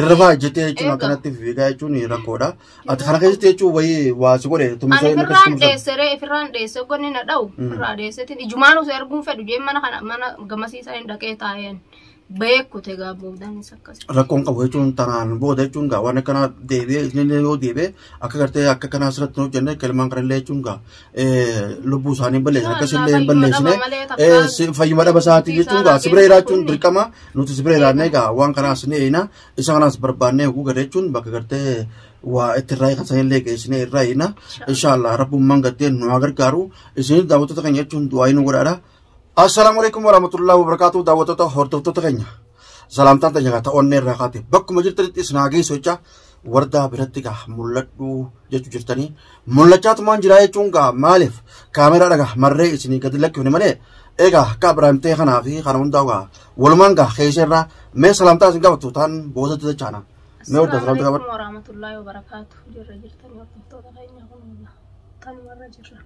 Irra faa jettee jechuun Eega. akkanatti fiigaa jechuun rakkoodha. Ati kana keessatti jechuun wayii waa si godhe Ani tumisee na firraan keessatti dheesse ree firraan dheesse gonni na dha'u Mm. firraa dheessetiin ijumaan osoo arguun fedhu jeen mana kana mana gamasiisaa hin dhaqee taa'een beekute gaa boodaanis akkas. rakkoon qabu jechuun tanaan booda jechuun gaa waan akkanaa deebi'ee inni yoo deebi'ee akka gartee akka kanaa asirratti hin hojjenne kelmaan kanallee jechuun gaa lubbuu isaanii balleessan akkasillee hin balleessine fayyuma dhaba isaatii jechuun egaa sibira jiraachuun dirqama nuti sibira jiraannee egaa waan kanaas ni eeyna isa kanaas barbaannee oguu gada jechuun bakka gartee waa itti irraa kan sanillee geessinee irraa eeyna inshaallah rabbummaan gattee nu haa gargaaru isin daawwattoota keenya jechuun du'aa inni godhaadha Assalaamu alaikum warahmatullahi wabarakatuh daawwattoota hordoftoota keenya salaamtaan teenya gaa ta'onnee irraa kaate bakkuma jirtanitti isin haa geessu jecha wardaa biratti gaa mul'adhu jechu jirtanii mul'achaa tumaan jiraa jechuun gaa maaliif kaameraa dhaga marree isinii gadi lakkifne malee egaa akka Abiraam ta'e kanaa fi kana hundaa gaa walumaan gaa keessa irraa mee salaamtaa isin gaafatu taan boosatti jechaana mee wardaa salaamtaa gaafadhu. Assalamualaikum warahmatullahi wabarakatuh. Jirra jirtanii hordoftoota keenya kun tanumarra jirra.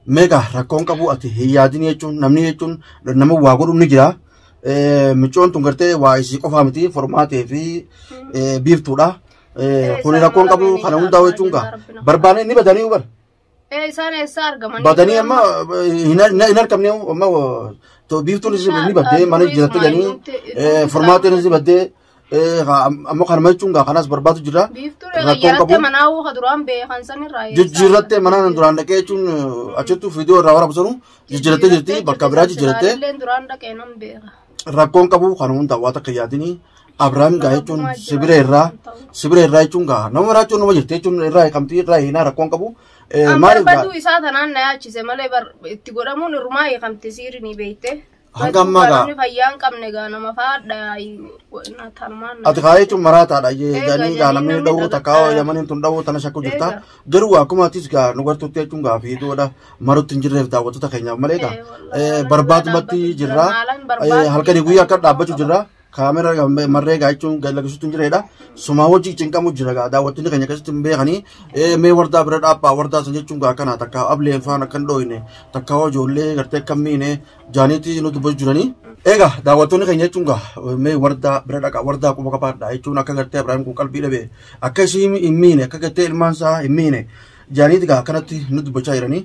Meeqa rakkoon qabu ati hin yaadin jechuun namni jechuun nama waa godhu ni jira. Micoon tun gartee waa isii qofaa miti formaatee fi biiftuudha. Kuni rakkoon qabu kana hundaa jechuun gaa barbaanee ni badanii bara. Ee isaan eessaa argaman? Badanii amma hin argamne amma biiftuun isii ni baddee mana jiraattu jedhanii formaatee ni baddee. Eh, haa, am- amma kanuma jechuun gaa kanas barbaadu jira. Biiftuu Rakkoon qabu. yarattee manaa uuka duraan beekan sanirraa eessaa Jijjiirrattee mana nan duraan dhaqee jechuun eh, achittuu viidiyoo irraa waraabdu sanu jijjiirrattee jirti bakka biraa jijjiirrattee Illeen duraan dhaqee nan beeka. rakkoon qabu kan hundaa waa takka yaadini Abiraam gaa jechuun sibira irraa sibira irraa jechuun gaa nama maraachuun nama jirti jechuun irraa hiikamtii irraa hiinaa rakkoon qabu Eh, An maaliif gaa barbaduu isaa tanaan na yaachise malee bar- itti godhamuun irrumaa hiikamte siirii ni beekte. Hanga ammaa gaa. Namni fayyaa hin qabne gaa nama faadha yaa'i. Tarmaan. Ati kaa jechuun maraataadha. Eegaa, Jedhanii gaa jedhanii namni namni dhawuu takkaa dhawuu yamaniin tun dhawuu tana shakku jirta. Eegaa. Garuu akkuma atis gaa nu gartuutti jechuun gaa fiiduudha. Marutti hin jirreef daawwattoota keenyaaf malee gaa. Eh, wallahi, Eh, barbaadumatti barbaadu jirra. jirra. Maalan Eh, barbaadu Halkanii guyyaa akka dhaabbachuu jirra. kaamera marree gaa jechuun lakkisuutti hin jireedha. Sumaa wajjin cinqamu jira gaa daawwattoonni keenya keessatti hin beekanii mee wardaa bira dhaabaa wardaa san jechuun gaa kana takka ableen faan akka hin dhooyne takka hoo ijoollee gartee akka miine jaaniitti nu dubbachuu jiranii. Egaa daawwattoonni keenya jechuun gaa mee wardaa bira dhaqa wardaa quba qabaadha jechuun akka gartee Abiraam kun qalbii dhabe akka ishii hin miine akka gartee ilmaan isaa hin miine jaaniitti gaa akkanatti nu dubbachaa jiranii.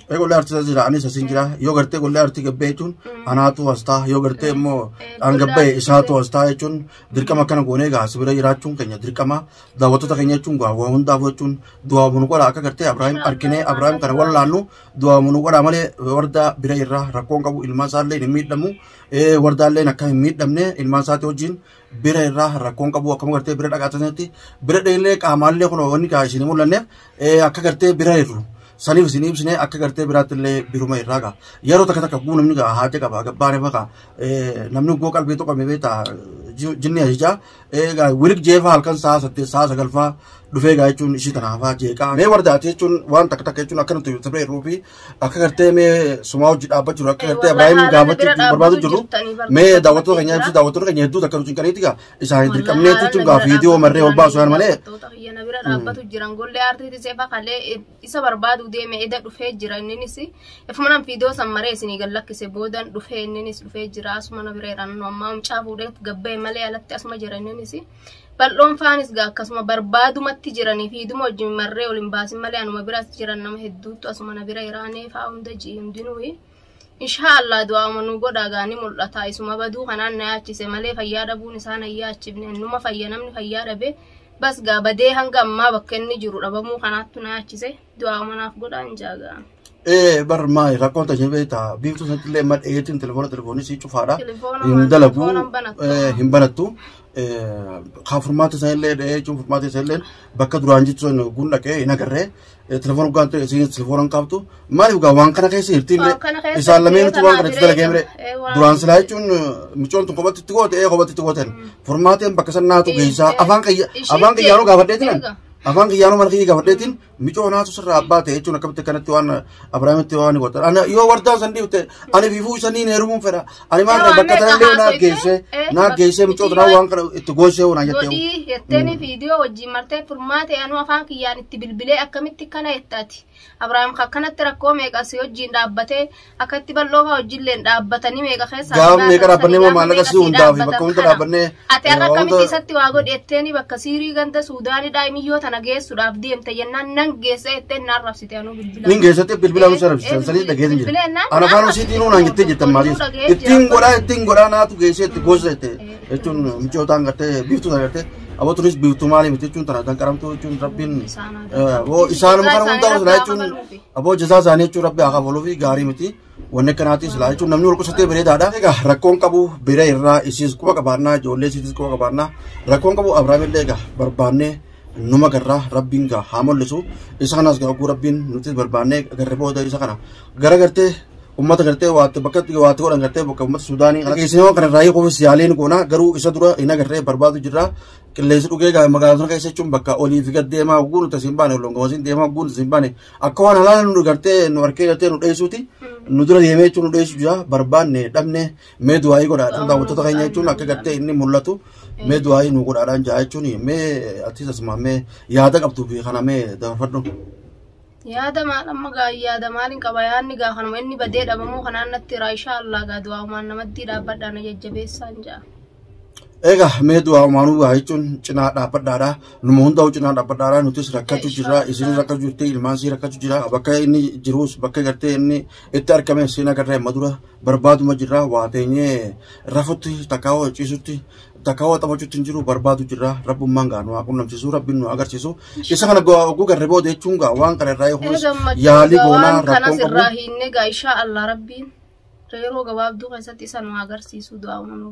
Mee qollee artii isa jira anis asin jira yoo gartee qollee artii gabbee jechuun anaatu as ta'a yoo gartee immoo an gabbee isaatu as ta'a jechuun dirqama akkana goonee egaa si bira jiraachuun keenya dirqama daawwattoota keenya jechuun gaa waa hundaaf jechuun du'aa bunu godha akka gartee Abiraahim arginee Abiraahim kana wallaannu du'aa bunu godha malee wardaa bira irraa rakkoon qabu ilmaan isaallee hin miidhamu wardaalleen akka hin miidhamne ilmaan isaati wajjin bira irraa rakkoon qabu akkam gartee bira dhaqaa taasisetti bira dheellee qaamaallee kun wanni kaa isin mul'anneef akka gartee bira irru saniif isin ibsine akka gartee biraatti illee biruma irraa gaa yeroo takka takka guu namni gaa haate qaba gabbaane faqa namni goo qalbii tuqame beeta jinni ajajaa gaa wirik jeefa halkan sa'a saddeet sa'a sagalfaa dhufee gaa jechuun ishii tanaafaa jeeqaa anee wardaate jechuun waan takka takka jechuun akkanatti sirba irruu fi akka gartee mee sumaa hojii dhaabbaa jiru akka gartee Ibrahim gaafachuu barbaadu jiru mee daawwattoota keenya ibsi daawwattoota keenya hedduu takka nuti qaniiti gaa isaan hin dirqamnee tuutuun gaa viidiyoo marree ol baasu haan malee. Yana bira dhaabbatu jiran gollee aartiiti seefa kalee isa barbaadu deeme eda dhufee jira inninis ifumanan viidiyoo san maree isinii gad lakkise boodan dhufee inninis dhufee jira asuma na bira jedhan ammaa mucaa fuudhee gabbee malee alatti asuma jira inninis. Bal'oon faanis gaa akkasuma barbaadumatti jiranii fi hiduma wajjin marree ol hin baasin malee anuma biras jiran nama hedduutu asuma na bira iraanee faa hunda ji'i hundinuu. Inshaa Allah du'aama nu godhaa gaa ni mul'ata isuma baduu kanaan na yaachise malee fayyaa dhabuun isaa na yaachifne innuma fayya namni fayyaa dhabe bas gaa badee hanga ammaa bakka inni jiru dhabamuu kanaattu na yaachise. Du'aa manaaf godhaan jaaga. Ee bar maali rakkoon tashee beektaa biiftuu sanatti illee madda eetiin telefoona telefoonii sii cufaadha. Telefoona Hin waan dalagu telefoona hin banattu. ee, hin banattu. Ee, Kaa furmaata isaa illee dhahee jechuun furmaata isaa illee bakka duraan jechuun sana gun dhaqee hin agarree ee, telefoona dhugaan ta'e isiin telefoona hin qabdu. Maaliif gaa waan kana keessa hirtiin Waan kana keessa isaan lameen hirtee waan kana itti kanaa dalagee mire jiree jira. duraan silaa jechuun micoon tun kophatti itti goote ee kophatti itti gooten furmaateen bakka san naatu geessaa afaan qayya afaan qayyaaroo gaafadhee jiran. afaan kiyyaanuu mana kiyya gaafadheetiin micoo naatu sirraa abbaa ta'e jechuun akkamitti akkanatti waan abrahaamitti waan godhan ana yoo wardaan san dhiifte ani fiifuu isanii heerumuun fedha ani maal Yoo bakka amee tanallee naa haasofte, geesse eh, naa bakka geesse micoo tanaa yoo- waan kana itti goosee waan jettee godhii jetteeni viidiyoo wajjin martee furmaate anuu afaan kiyyaan itti bilbilee akkamitti kana jettaati Abrahaam ka akkanatti rakkoo meeqa si wajjin dhaabbatee akkatti bal'oo fa'aa wajjilleen dhaabbatanii meeqa keessa Gaafa meeqa dhaabbannee moo maallaqa sii hundaa fi bakka hunda dhaabbannee Ati har'a wanta- akkamitti isatti waa godhi jetteeni bakka siirii ganda Suudaanii daa'imiyyoo tana geessuudhaaf deemte jennaan nan geessa jetteen na arrabsite anuu bilbila. Nin keessatti bilbila nu sarabsisan sanii dhageessin jira. Ana afaan isiitiin uunaan jettee jettan maaliis. Ittiin godhaa ittiin godhaa naatu geessee itti goosisa jettee. jechuun michootaan gartee biiftuudha gartee aboo tunis biiftuu maali miti jechuun tana danqaramtuu jechuun rabbiin aboo isaanuma kana hunda silaa jechuun aboo jazaa isaanii jechuun rabbi haa kafaluu fi gaarii miti wanni akkanaati silaa jechuun namni wal qusatee bareedaadha egaa rakkoon qabu bira irraa isiis quba qabaannaa ijoollee isiitis quba qabaannaa rakkoon qabu abrahaamillee egaa barbaannee numa garraa rabbiin gaa haa mul'isu isa kanas gaa oguu rabbiin nuti barbaannee garri booda isa kana gara gartee ummata gartee waatti bakka waatti godhan gartee bakka ummata suudaanii kana keessee waan kana raayii qofa siyaaliin goona garuu isa dura hin agarree barbaadu jirra qilleensi dhugee gaa magaalaa sana keessa jechuun bakka olii fi gad deemaa oguu nuti asiin baane olongoosiin deemaa oguu nuti asiin baane akka waan halaala nu gartee nu harkee gartee nu dheessuuti nu dura deemee jechuun nu dheessu jira barbaanne dhabne Mee du'aayii godhaadhaan daawwattoota keenya jechuun akka gartee inni mul'atu mee du'aayii nu godhaadhaan jaa jechuun mee atis asuma mee yaada qabdu fi kana mee dabarfadhu. Yaada maal amma gaa yaada maaliin qaba yaadni gaa kanuma inni badee dhabamuu kanaan natti iraa ishaa allaa gaa du'aa'umaan namattii dhaabbadhaa na jajjabeessaan jaa. Egaa mee du'aa umaanuu waa jechuun cinaa dhaabbadhaadha. Numa hundaa'u cinaa dhaabbadhaadha. Nutis rakkachuu jirra. Isin rakkachuu jirti. Ilmaan sii rakkachuu jira. Bakka inni jirus bakka gartee inni itti argame siin agarra amma dura. barbaaduma jirra waa teenyee rafutti takkaa waa ciisutti takkaa waa taphachuutti hin jiru barbaadu jirra rabbummaan gaa nu haa qunnamsiisu rabbiin nu agarsiisu isa kana gaa oguu garri booda jechuun gaa waan kana irraa eeguus yaalii goonaa waan kanas rakkoon irraa qabu hiinne gaa inshaa Allah rabbiin yeroo gabaabduu keessatti isa nu agarsiisu du'aa uumamu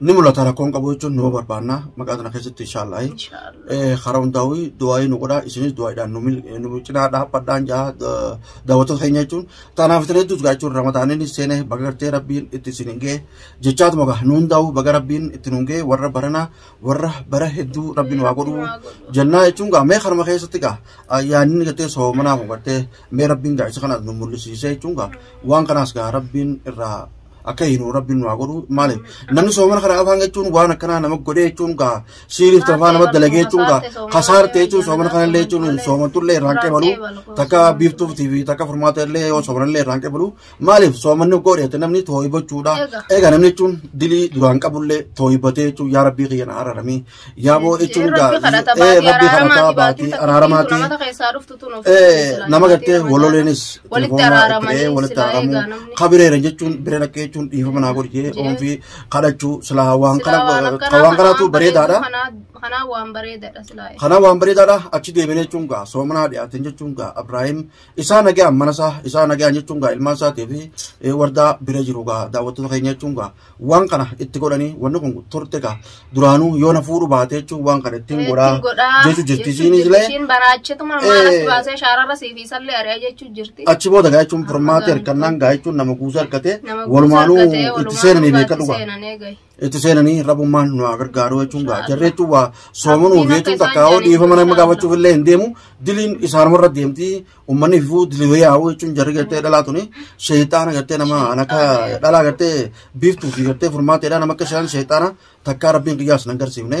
ni mul'ata rakkoon qabu jechuun numa barbaanna maqaa kana keessatti inshaallah karaa hundaa'uu du'aa'ii nu godhaa isinis du'aa'iidhaan nu cinaa dhaabbadhaan jaa daawwattoota keenya jechuun tanaaf isin hedduus gaa jechuun ramadaaniin seene baga gartee rabbiin itti isin hin ga'e jechaatuma gaa nu hundaa'uu baga rabbiin itti nu hin ga'e warra barana warra bara hedduu rabbiin waa godhuu jennaa jechuun gaa mee kanuma keessatti gaa yaadni gartee soomanaa kun gartee mee rabbiin gaa isa kana nu mul'isiisee jechuun gaa waan kanaas gaa rabbiin irraa akka hiinu rabbiin nu haa godhu maaliif namni soomana kana afaan jechuun waan akkanaa nama godhee jechuun gaa siiriif tafaa nama dalagee jechuun gaa kasaarte jechuun soomana kana illee jechuun soomantullee irraan qeebalu takka biiftuufi fi takka furmaata illee yoo soomana illee irraan qeebalu maaliif soomanni godheete namni tooyibachuudha egaa namni jechuun dilii duraan qabullee tooyibatee jechuun yaa rabbii kiyya na araramii Yaa moo'ichi hundaa. Rabbi kadhata Ee, baatii Rabbi kadhataa araaramaati baatii baatii araaramaati. araaramaati. Lammata keessaa dhuftu tun of Ee, eeggatu, nama baatii gartee Ramadaanaa. waloleenis Walitti telefoonaa itti araaramanii ta'ee walitti silaa araaramuu eegaa namni. kabireera jechuun biree dhaqqee jechuun dhiifama naa godhi jee Jee. oomfii kadhachuu silaa waan Silaa kana waan akkanaa waan kanaatu kanaan bareedaadha. bareedu kanaa- kanaa waan bareedaadha silaa. Kanaa waan bareedaadha achi deebinee jechuun gaa soomanaa dhiyaateen jechuun gaa Abiraahim isaa nagaan mana isaa isaa nagaan jechuun gaa ilmaan isaatii fi eh, wardaa bira jiru gaa daawwattoota keenya jechuun gaa waan kana itti godhanii wanni kun turte gaa duraanuu yoo na fuudhu baate jechuun waan kana ittiin godhaa jechuu jirti isiinis illee Ishiin baraachituma Eh. maalatti baasee shaararra siif isallee ari'a jechuu jirti. achi booda gaa jechuun furmaatee hirkannaan gaa jechuun nama kuusa hirkatee Nama walumaanuu kuusaa argatee itti walumaanuu seenanii beeka itti dhugaa. seenanii gahe. itti seenanii rabummaan nu haa gargaaruu jechuun gaa jarri jechuun waa soomanuu fi jechuun takka hoo dhiifama nama gaafachuuf illee hin deemu diliin isaanuma irra deemti uummanni fifuu dilii wayaa'uu jechuun jarri gartee dhalaa tuni sheeyxaana gartee nama an akka dhalaa gartee biiftuu fi gartee furmaateedha nama akka isaan sheeyxaana takkaa rabbiin qiyyaas hin agarsiifne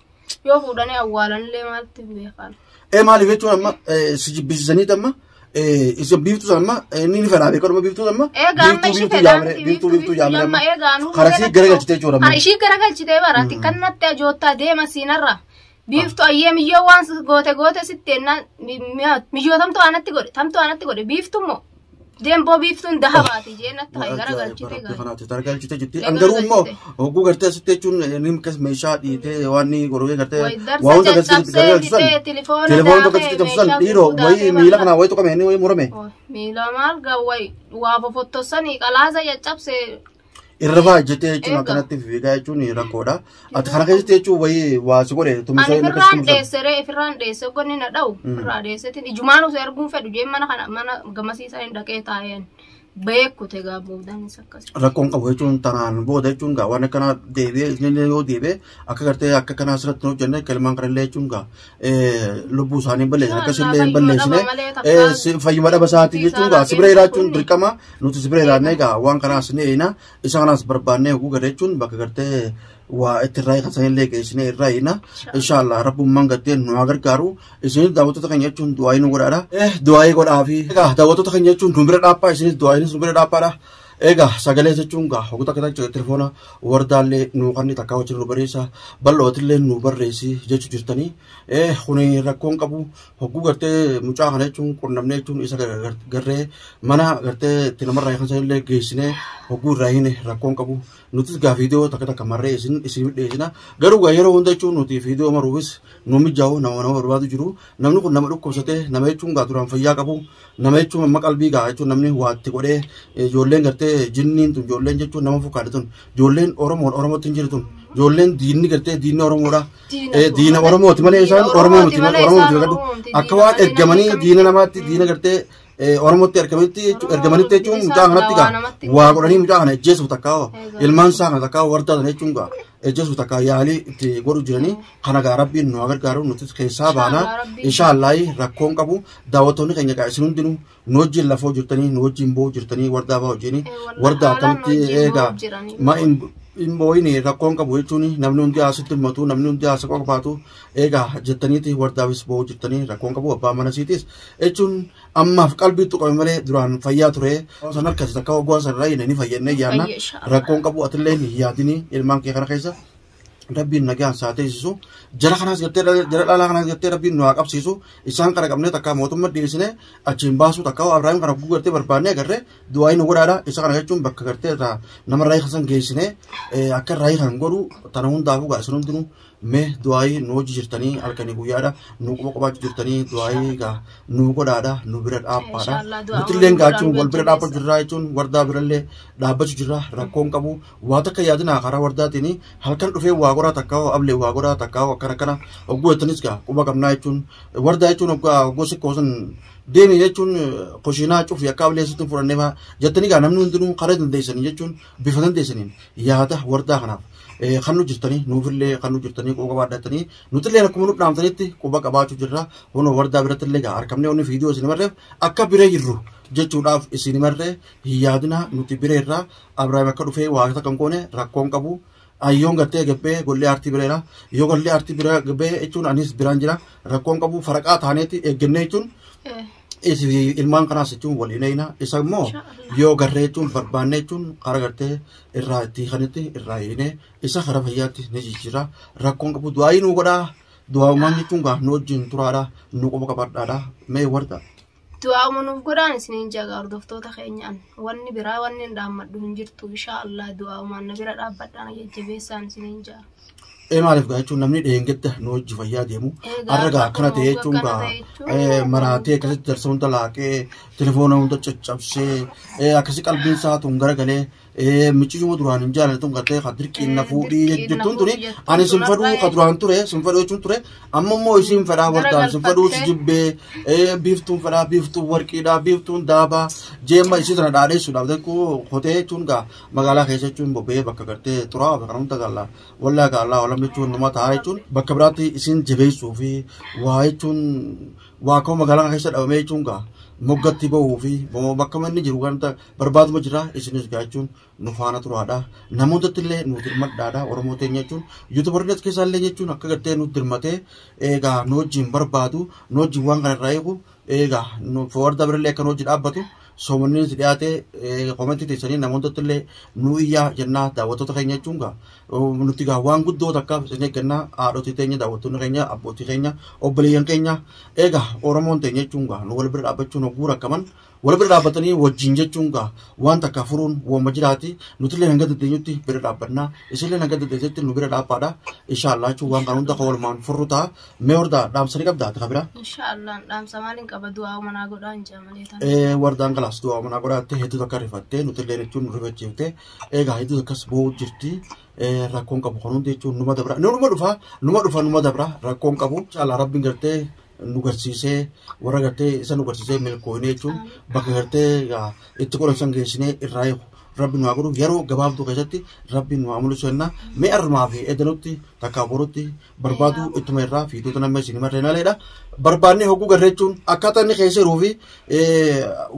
Yoo fuudhanii awwaalanillee maaltu hin beekan. Ee maaliif jechuun amma eh, si jibbisiisaniit amma eh, isa biiftuu sana amma eh, inni ni fedhaa beekaa dhuma biiftuu sana amma Egaa amma biiftuu ishii biiftuu fedhaa yaamire miti biiftuu biiftuu yaamire amma amma egaa anuu karaa si fedhaa garagalchitee jechuudha Kan amma. ishii garagalchitee bara tikkan natti ajoottaa deema siinarra. Biiftu ayyee miyyoo waan si- goote goote sitti ennaan mi- mi- miyyoo tamtu aanatti godhe tamtu aanatti godhe biiftu immoo Demboo biiftuun dahabaati jeen akka ta'e gara galchite Baratee gaara. kanaatti targalchite jirti. Gara An garuu immoo galchite. hogguu gartee asitti jechuun inni akkas meeshaa dhiitee waan inni gorogee gartee Wayi waa darsa hunda gartee itti caccabsee gargalchisan. bitee tilifoona Telefoon tokko daakee itti cabsan meeshaa dhiiroo gurgudaa wayii ta'e miila bal'aa. kanaa wayii tuqame inni wayii murame. Miila marga wayi waa fofottosanii qalaasa caccabsee Irra faa ejjettee jechuun Eega. akkanatti fiigaa jechuun rakkoodha. Ati kana keessatti jechuun wayii waa si godhe Ani tumisee inni firraan akkasuma dheesse ree firraan dheesse gonni na dha'u Mm. firraa dheessetiin ijumaan osoo arguun fedhu jeen mana kana mana gamasiisaa hin dhaqee taa'een beekute gaabboodaanis akkas. rakkoon qabu jechuun tanaan booda jechuun gaa waan akkanaa deebi'ee inni yoo deebi'ee akka gartee akka kanaa asirratti hin hojjenne akka ilmaan kanallee jechuun gaa lubbuu isaanii hin balleessine akkas illee hin balleessine fayyuma dhaba isaatii jechuun gaa sibira jiraachuun dirqama nuti sibira jiraannee gaa waan kanaas ni eeyina isa kanaas barbaannee hoguu gada jechuun bakka gartee waa itti irraa kan sanillee geessine irraa eeyina inshaallah rabbummaan gartee nu haa gargaaru isinis daawwattoota keenya jechuun du'aayii nu godhaadha du'aayii godhaafi daawwattoota keenya jechuun nu bira dhaabaa isinis du'aayiinis nu bira dhaabaadha Egaa sagalee jechuun gaa hoggota kana jechuudha telefoona wardaallee nuu kanni takkaa wajjin nu barreessa bal'ootillee nu barreessi jechu jirtanii kuni rakkoon qabu hogguu gartee mucaa kana jechuun qunnamnee jechuun isa garree mana gartee itti namarraa kan sanillee geessinee hogguu irraa hine rakkoon qabu nutis gaa viidiyoo takka takka marree isin isin dhiyeessina garuu gaa yeroo hunda jechuun nuti viidiyoo maruufis nu mijaa'u nama nama barbaadu jiru namni kun nama dhukkubsatee nama jechuun gaa duraan fayyaa qabu Nama jechuun amma qalbii gahaa jechuun namni waatti godhee ijoolleen gartee jinniin tun ijoolleen jechuun nama fakkaatu tun ijoolleen Oromoon Oromootti hin jiru tun ijoolleen diinni gartee diinni Oromoodha. Diina Oromooti malee isaan Oromoo miti Oromoo miti gadhu akka waan ergamanii diina namaatti diina gartee Oromootti ergamanitti ergamanitti jechuun mucaa kanatti gaa waa godhanii mucaa kana ejjeesuuf takkaa ilmaan isaa kana takkaa wardaa sana jechuun gaa ejjeesuuf takkaa yaalii itti godhu jiranii Kana gaa rabbiin nu haa gargaaru nutis keessaa Inshaa baana. Allah, rabbiin- Inshaa Allah rakkoon qabu daawwattoonni keenya gaa isin hundinuu nu wajjin lafoo jirtanii nu wajjin boo'u jirtanii wardaa ba'u wajjin Eh, wallahi, wardaa haalaan akkamitti nu wajjin eegaa boo'u jiranii. ma hin hin boo'in rakkoon qabu jechuun namni hundi haasitti himmatu namni hundi haasa qofaatu eegaa jettaniiti wardaafis boo'u jirtanii rakkoon qabu abbaa mana siitis jechuun ammaaf qalbii tuqame malee duraan fayyaa ture san harkatti takka hoggaa san irraa ni fayyannee yaanna Fayya, inshaa Allah. rakkoon qabu atillee hin yaadini ilmaan kee kana keessa rabbiin nagaan saa teessisu jara kanaas gartee jara dhalaa kanaas gartee rabbiin nu haa qabsiisu isaan qara qabnee takka mootummaa dhiyeessine achiin baasuu takka waa Ibrahim kana guguu gartee barbaannee agarree du'aayi nu godhaadha isa kana jechuun bakka gartee taa nama raayii kasan geessine akka raayii kan godhu tana hundaafuu gaa isin hundinuu mee du'aayi nu hojii jirtanii halkanii guyyaadha nu quba qubaachuu jirtanii du'aayi gaa nu godhaadha nu bira dhaabbaadha Inshallah, du'aa nutillee waliin gaachuun wal bira jajjabeessa. dhaabbachu jirraa jechuun wardaa birallee dhaabbachuu jirra rakkoon qabu Waa takka yaadinaa karaa wardaatiin halkan dhufee waa goraa takkaa hoo ablee waa goraa takkaa hoo akkana akkana hogguu jettanis gaa quba qabnaa jechuun wardaa jechuun hoggaa hogguu sikkoo sun deemii jechuun koshiinaa cufi akka ablee sittin fudhannee faa jettanii gaa namni hundinuu karaa dandeessanii jechuun bifa dandeessaniin yaada wardaa kanaaf eh, kan nu jirtanii nuufillee kan nu jirtanii quba qabaa dhattanii nutillee akkuma nu dhaamtanitti quba qabaachuu jirra hunoo wardaa birattillee gaa arkamnee onni viidiyoo isin marreef akka biree jirru jechuudhaaf isin marree hin yaadinaa nuti bireerraa Abrahaam akka dhufee waa takka hin goone rakkoo hin qabu. Ayyoon gattee gabbee gollee aartii bireera. Yoo gollee aartii bira gabbee jechuun anis biraan jira. Rakkoo hin qabu faraqaa taaneeti eeggannee jechuun isi- ilmaan kanaas jechuun wal hin eeyna. Isa immoo yoo garree jechuun barbaannee jechuun karaa gartee irraa itti kanitti irraa hiinee isa karaa fayyaatti ni jijjiira. Rakkoo hin qabu du'aayii nu godhaa. Du'aawumaan jechuun gaa nu wajjin turaadha. Nu qofa qabadhaadha. Mee warda. du'aa'uma nuuf godhaan isiniin jaga hordoftoota keenyaan wanni biraa wanni hin dhaammadhu hin jirtu inshaa Allah du'aa'umaan na bira dhaabbadhaan jajjabeessaan isiniin jaa. Ee maaliif gaa jechuun namni dheengadda nu hojii fayyaa deemu Egaa har'a gaa akkana ta'e akkuma jechuun akkana gaa ta'e jechuun ee, maraatee akkasitti jarsa hunda laaqee telefoona hunda caccabsee ee, akkasi qalbiin isaa tun garagalee Eh, michiyyuma duraan hin jaalanne tun gartee ka dirqiin na Eh, fuudhii dirqiin na jettuun tuni fuudhii jettuun ani sin tun fedhuu har'a- ka duraan ture sin fedhuu jechuun ture amma immoo isiin fedhaa wartaan sin fedhuu si jibbee eh, biiftuun fedhaa biiftuun warqiidhaa biiftuun daabaa jeemma isii sana dhaadheessuudhaaf tokko hotee jechuun gaa magaalaa keessa jechuun bobba'ee bakka gartee turaa bakka namta galla wallaa gaallaa walam jechuun nama taa'aa jechuun bakka biraatti isiin jabeessuu fi waa jechuun waa ka'u magaalaa keessa dhabamee jechuun gaa moggatti ba'uu fi bakka manni jiru ganta barbaaduma jira isinis gaachuun nu faana turaadha namootatti illee nu dirmadhaadha oromoo teenya jechuun yuutubarri as keessaa illee jechuun akka gartee nu dirmatee eegaa nu wajjin barbaadu nu wajjin waan kana irraa eegu eegaa nu foorda birallee akka nu wajjin dhaabbatu soomanni si dhiyaatee komentii teessanii namootatti illee nu iyyaa jennaa daawwattoota keenya jechuun gaa nuti gaa waan guddoo takka isin eeggannaa haadhotii teenya daawwattoonni keenya abbootii keenya obboleeyyan keenya eegaa oromoon teenya jechuun gaa nu wal bira dhaabbachuun hogguu rakkaman Wal bira dhaabbatanii wajjin jechuun gaa waan takka furuun wooma jiraati. Nutillee hanga dandeenyutti bira dhaabbannaa. Isinillee hanga dandeessetti nu bira dhaabbaadha. Inshaallah jechuun waan kana hunda kan walumaan furru ta'a. Mee hordaa dhaamsa ni qabdaa takka biraa? Insha Allah dhaamsa maaliin qaba du'aa manaa godhaa hin jaamalee tan. Eh, wardaan galaas du'aa manaa godhaatte hedduu takka rifattee nutillee jechuun nu rifachiifte egaa hedduu takkas boo'u jirti Eh, rakkoon qabu kun hundi jechuun numa dabra numa dhufa numa dhufa numa dabra rakkoon qabu inshallah rabbiin gartee nu garsiisee warra gartee isa nu garsiisee milkooyinee jechuun bakka gartee itti godhan san geessinee irraa eegu rabbi nu haa godhu yeroo gabaabduu keessatti rabbi nu haa mul'isu jenna mee armaa fi edanutti takkaa borutti barbaaduu ittuma irraa fiidoota namni isin marree naleedha barbaannee hogguu garree jechuun akkaataa inni keessa jiruu fi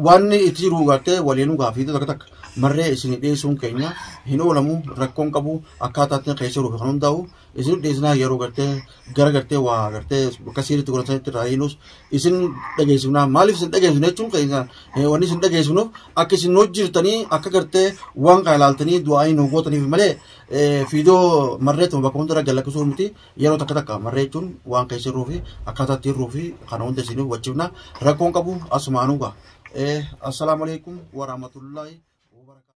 waan inni itti jiru gartee waliinuu gaa fiidota akka takka marree isin dhiyeessuun keenya hin oolamu rakkoon qabu akkaataa inni keessa jiruu fi kan hundaa'u isin dhiisnaa yeroo gartee gara gartee waa gartee bakka siiritti godhatanitti irraa hiinus isin dhageessifnaa maaliif isin dhageessifne jechuun keessa wanni isin dhageessifnuuf akka isin hojjirtanii akka gartee waan kana ilaaltanii du'aa'ii nu gootaniif malee fiidoo marreetuma bakka hundarra galakkisuu miti yeroo takka takka marree jechuun waan keessa irruu fi akkaataa itti irruu fi kana hunda isiniif wachifna rakkoon qabu asumaanuu ga'a. Assalaamu alaikum warahmatullahi wabarakatuh.